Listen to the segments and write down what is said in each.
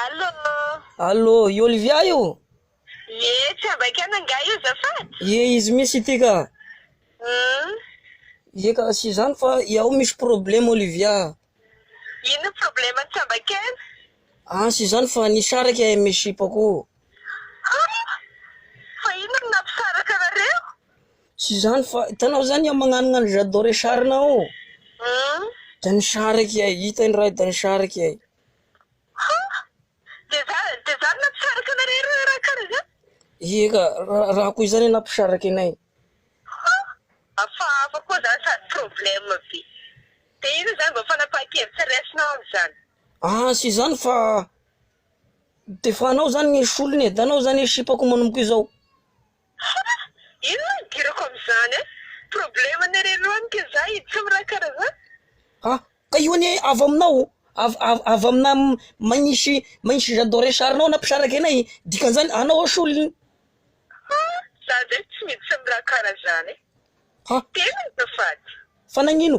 Allô. Allô, i Olivia io? Ie, tsy ambaikanao angaha io azafady? Ie, izy mihintsy ity ka. Hum. Ie ka, tsy izany fa i ao misy problème Olivia a. Inona ny problème-n'i tsy ambaikaina? An, tsy izany fa nisy araka i amin'ny sipako. An! Fa inona no nampisaraka anareo? Tsy izany fa hitanao izany aho magnanona an'i J'adore sarina ao. Hum. Dia nisaraka i Ahy, hita indray dia nisaraka i Ahy. Ha! Dia izany, dia izany nampisaraka anareo ireo raha kara izany? Ie ka, raha koa izany nampisaraka anay. Ha! Hafahafa koa izany sady problème be. Dia inona izany vao fanapahan-kevitra raisinao amin'izany? Ah, tsy izany fa dia fa anao izany ny solony e, dia anao izany ny sipako manomboka izao. Ha! Inona no idirako amin'izany an! Problème ny re loha ny k'izay tsy miraha karaha zany. Ha! Ka io anie avy aminao, avy avy aminà magnisy magnisy j'adore ny sarinao na mpisaraka ena e! Dikan'izany anao ao solony. Ha! Za zay tsy mety tsy miraha karaha zany e! Ha! Tena azafady. Fa nagnino?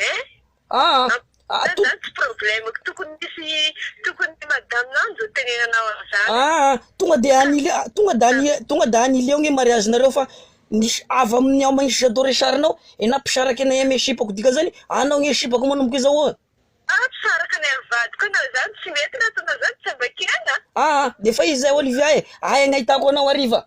Eh! Zany zany tsy problemeko, tokony misy tokony ny madame nao no tenenanao an'izany e! Aa! Tonga de any Ile- tonga de any tonga de any Ile eo nge mariage nareo fa nisy avy amin'ny ao Mahisy Jadot Richard nao e na mpisaraka anay amy sipako dikan'izany anao nge sipako manomboka izao oa! Aa! Mpisaraka anay amy vadiko anao izany, tsy mety raha ataonao izany, tsy ambakina a! Aa! D'efa izy zay Olivia e! Aia no ahitako anao hariva?